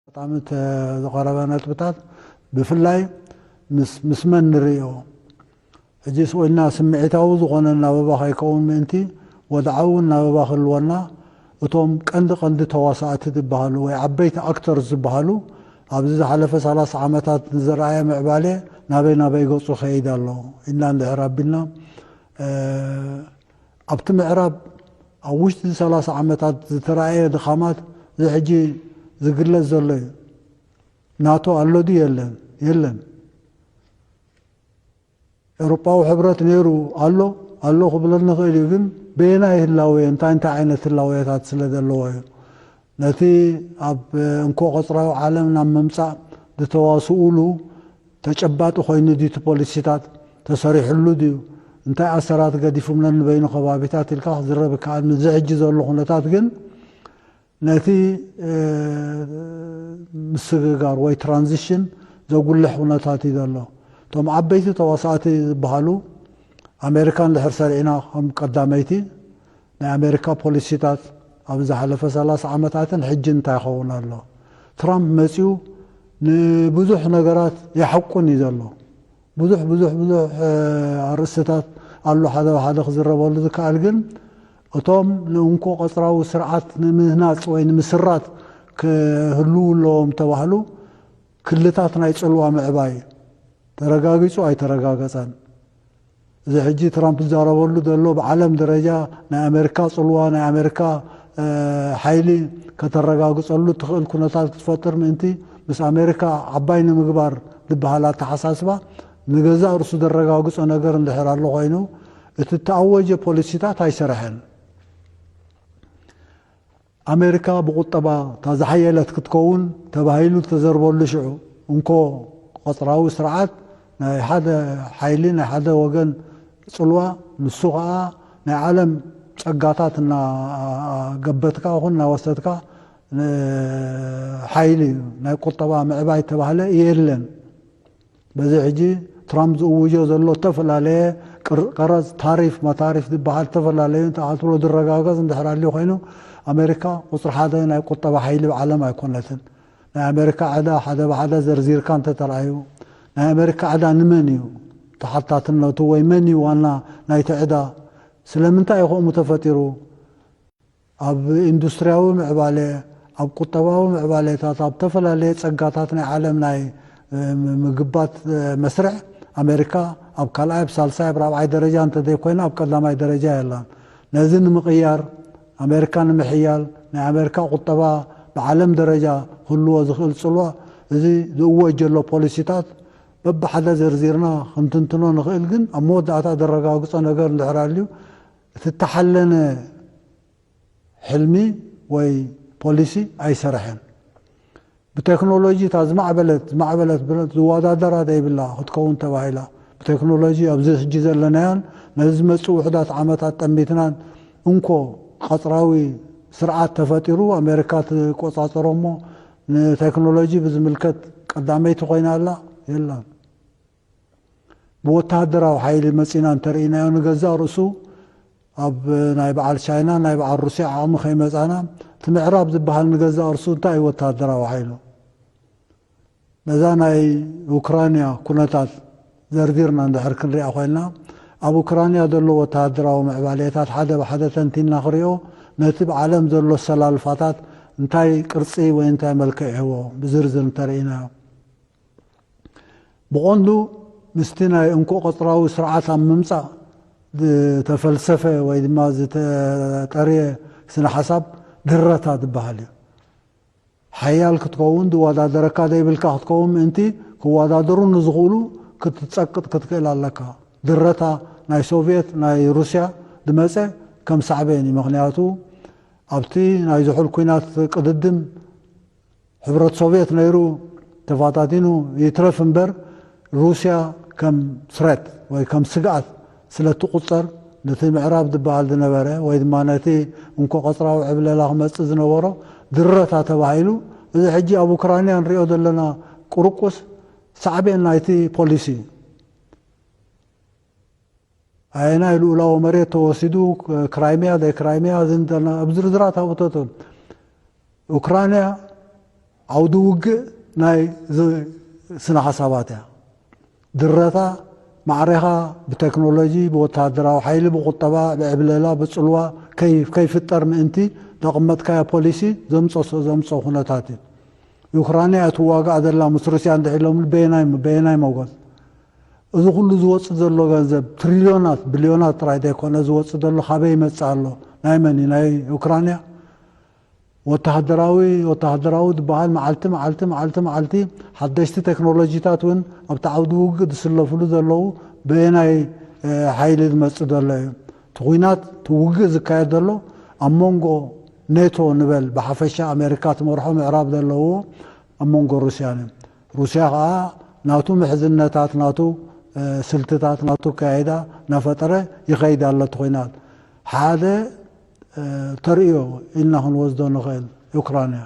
ኣጋጣሚ ዝቐረበ ነጥብታት ብፍላይ ምስ መን ንርእዮ ሕጂ ስቕ ኢልና ስምዒታዊ ዝኾነ ኣናብባ ከይከውን ምእንቲ ወድዓዊ ኣናብባ ክህልወና እቶም ቀንዲ ቀንዲ ተዋሳእቲ ዝበሃሉ ወይ ዓበይቲ ኣክተርስ ዝበሃሉ ኣብዚ ዝሓለፈ ሰላሳ ዓመታት ንዝረኣየ ምዕባሌ ናበይ ናበይ ገፁ ይኸይድ ኣሎ ኢልና እንድሕር ኣቢልና ኣብቲ ምዕራብ ኣብ ውሽጢ ሰላሳ ዓመታት ዝተራእየ ድኻማት እዚ ሕጂ ዝግለጽ ዘሎ እዩ። ናቶ ኣሎ ድዩ የለን? የለን። ኤውሮጳዊ ሕብረት ነይሩ ኣሎ ኣሎ ክብለኒ ይኽእል እዩ፣ ግን በየናይ ህላዌ እንታይ እንታይ ዓይነት ህላዌታት ስለ ዘለዎ'ዩ። ነቲ ኣብ እንኮ ቐጽራዊ ዓለም ናብ ምምጻእ ዝተዋስኡሉ ተጨባጢ ኮይኑ ድዩ እቲ ፖሊሲታት? ተሰሪሑሉ ድዩ? እንታይ ኣሰራት ገዲፉም ነንበይኑ ከባቢታት ኢልካ ክዝረብ ይከኣል። ምስዚ ሕጂ ዘሎ ኩነታት ግን ነቲ ምስግጋር ወይ ትራንዚሽን ዘጉልሕ ኩነታት እዩ ዘሎ። እቶም ዓበይቲ ተዋሳእቲ ዝበሃሉ ኣሜሪካ እንድሕር ሰሪዕና ከም ቀዳመይቲ፣ ናይ ኣሜሪካ ፖሊሲታት ኣብ ዝሓለፈ ሰላሳ ዓመታትን ሕጂን እንታይ ይኸውን ኣሎ? ትራምፕ መጺኡ ንብዙሕ ነገራት የሐቁን እዩ ዘሎ። ብዙሕ ብዙሕ ብዙሕ ኣርእስትታት ኣሎ ሓደ ብሓደ ክዝረበሉ ዝከኣል ግን እቶም ንእንኮ ቀጽራዊ ስርዓት ንምህናጽ ወይ ንምስራት ክህልዉ ኣለዎም እተባህሉ ክልታት ናይ ጽልዋ ምዕባይ ተረጋጊጹ ኣይተረጋገጸን። እዚ ሕጂ ትራምፕ ዝዛረበሉ ዘሎ ብዓለም ደረጃ ናይ ኣመሪካ ጽልዋ ናይ ኣመሪካ ሓይሊ ከተረጋግጸሉ እትኽእል ኩነታት ክትፈጥር ምእንቲ ምስ ኣመሪካ ዓባይ ንምግባር ዝበሃል ኣተሓሳስባ ንገዛእ ርእሱ ዘረጋግጾ ነገር እንድሕር ኣሎ ኮይኑ እቲ እተኣወጀ ፖሊሲታት ኣይሰረሐን። ኣሜሪካ ብቑጠባ እታ ዝሓየለት ክትከውን ተባሂሉ ዝተዘርበሉ ሽዑ እንኮ ቐጽራዊ ስርዓት ናይ ሓደ ሓይሊ ናይ ሓደ ወገን ጽልዋ ንሱ ከኣ ናይ ዓለም ጸጋታት እናገበትካ ይኹን እናወሰድካ ሓይሊ ናይ ቁጠባ ምዕባይ እተባህለ የለን። በዚ ሕጂ ትራምፕ ዝእውጆ ዘሎ እተፈላለየ ቀረጽ፣ ታሪፍ፣ መታሪፍ ዝበሃል እተፈላለዩ እንተኣትብሎ ዝረጋገጽ እንድሕር ኣልዩ ኮይኑ፣ ኣመሪካ ቁጽሪ ሓደ ናይ ቁጠባ ሓይሊ ብ ዓለም ኣይኮነትን። ናይ ኣመሪካ ዕዳ ሓደ ብሓደ ዘርዚርካ እንተተራእዩ፣ ናይ ኣመሪካ ዕዳ ንመን እዩ ተሓታትነቱ ወይ መን እዩ ዋና ናይቲ ዕዳ? ስለምንታይ እዩ ከምኡ ተፈጢሩ? ኣብ ኢንዱስትሪያዊ ምዕባለ፣ ኣብ ቁጠባዊ ምዕባለታት፣ ኣብ እተፈላለየ ጸጋታት ናይ ዓለም ናይ ምግባት መስርዕ፣ ኣመሪካ ኣብ ካልኣይ፣ ኣብ ሳልሳይ፣ ኣብ ራብዓይ ደረጃ እንተዘይኮይና ኣብ ቀዳማይ ደረጃ የላን። ነዚ ንምቕያር፣ ኣመሪካ ንምሕያል፣ ናይ ኣመሪካ ቁጠባ ብዓለም ደረጃ ክህልዎ ዝኽእል ጽልዋ፣ እዚ ዝእወጅ ዘሎ ፖሊሲታት በብሓደ ዘርዚርና ክንትንትኖ ንኽእል ግን ኣብ መወዳእታ ዘረጋግጾ ነገር እንድሕር ኣልዩ፣ እቲ እተሓለነ ሕልሚ ወይ ፖሊሲ ኣይሰረሐን። ብቴክኖሎጂ እታ ዝማዕበለት ዝማዕበለት ብረት ዝወዳደራ ዘይብላ ክትከውን ተባሂላ ብቴክኖሎጂ ኣብዚ ሕጂ ዘለናዮን ነዚ ዝመጽእ ውሑዳት ዓመታት ጠሚትናን እንኮ ቐጽራዊ ስርዓት ተፈጢሩ ኣሜሪካ ትቆጻጸሮ'ሞ ንቴክኖሎጂ ብዝምልከት ቀዳመይቲ ኮይና ኣላ? የላን። ብወተሃደራዊ ሓይሊ መጺና እንተርኢናዮ ንገዛእ ርእሱ ኣብ ናይ በዓል ቻይና ናይ በዓል ሩስያ ዓቕሚ ከይመጻና እቲ ምዕራብ ዝበሃል ንገዛእ ርእሱ እንታይ እዩ ወተሃደራዊ ሓይሉ ነዛ ናይ ኡክራንያ ኩነታት ዘርዚርና እንድሕር ክንሪኣ ኮይንና ኣብ ኡክራንያ ዘሎ ወተሃደራዊ ምዕባሌታት ሓደ ብሓደ ተንቲና ክሪኦ ነቲ ብ ዓለም ዘሎ ኣሰላልፋታት እንታይ ቅርጺ ወይ እንታይ መልክዕ ይህቦ ብዝርዝር እንተርኢናዮ ብቐንዱ ምስቲ ናይ እንኮ ቐጽራዊ ስርዓት ኣብ ምምጻእ ዝተፈልሰፈ ወይ ድማ ዝተጠርየ ስነ ሓሳብ ድረታ ዝበሃል እዩ። ሓያል ክትከውን ዝወዳደረካ ዘይብልካ ክትከውን ምእንቲ ክወዳደሩ ንዝኽእሉ ክትጸቅጥ ክትክእል ኣለካ። ድረታ ናይ ሶቭየት ናይ ሩስያ ዝመጸ ከም ሳዕቤን እዩ። ምኽንያቱ ኣብቲ ናይ ዝሑል ኲናት ቅድድም፣ ሕብረት ሶቭየት ነይሩ ተፋታቲኑ ይትረፍ እምበር ሩስያ ከም threat ወይ ከም ስግኣት ስለ እትቑጸር ነቲ ምዕራብ ዝበሃል ዝነበረ ወይ ድማ ነቲ እንኮ ቀጽራዊ ዕብለላ ክመጽእ ዝነበሮ ድረታ ተባሂሉ እዚ ሕጂ ኣብ ኡክራንያ ንሪኦ ዘለና ቁርቁስ ሳዕቤን ናይቲ ፖሊሲ እዩ። ኣየናይ ልኡላዊ መሬት ተወሲዱ፣ ክራይሚያ ዘይክራይሚያ ዝንተና ኣብ ዝርዝራት ኣውተቶም። ኡክራንያ ዓውዲ ውግእ ናይ ስነ ሓሳባት እያ። ድረታ ማዕሬኻ ብቴክኖሎጂ፣ ብወተሃደራዊ ሓይሊ፣ ብቁጠባ፣ ብዕብለላ፣ ብጽልዋ ከይፍጠር ምእንቲ ዘቐመጥካዮ ፖሊሲ ዘምጸሶ ዘምጾ ኩነታት እዩ። ኡክራንያ እያ ትዋጋእ ዘላ ምስ ሩስያ እንድሕር ኢሎምኒ በየናይ በየናይ መጎት እዚ ኩሉ ዝወጽእ ዘሎ ገንዘብ ትሪልዮናት ብልዮናት ጥራይ ዘይኮነ ዝወጽእ ዘሎ ካበይ ይመጽእ ኣሎ ናይ መን እዩ ናይ ኡክራንያ ወተሃደራዊ ወተሃደራዊ ዝበሃል መዓልቲ መዓልቲ መዓልቲ መዓልቲ ሓደሽቲ ቴክኖሎጂታት እውን ኣብቲ ዓውዲ ውግእ ዝስለፍሉ ዘለዉ በየናይ ሓይሊ ዝመጽእ ዘሎ እዩ እቲ ኩናት እቲ ውግእ ዝካየድ ዘሎ ኣብ መንጎ ኔቶ ንበል ብሓፈሻ ኣሜሪካ ትመርሖ ምዕራብ ዘለውዎ ኣብ መንጎ ሩስያን እዩ። ሩስያ ከኣ ናቱ ምሕዝነታት፣ ናቱ ስልትታት፣ ናቱ ኣከያይዳ እናፈጠረ ይኸይድ ኣሎ። እቲ ኹናት ሓደ ተርእዮ ኢልና ክንወስዶ ንኽእል ዩክራን እያ።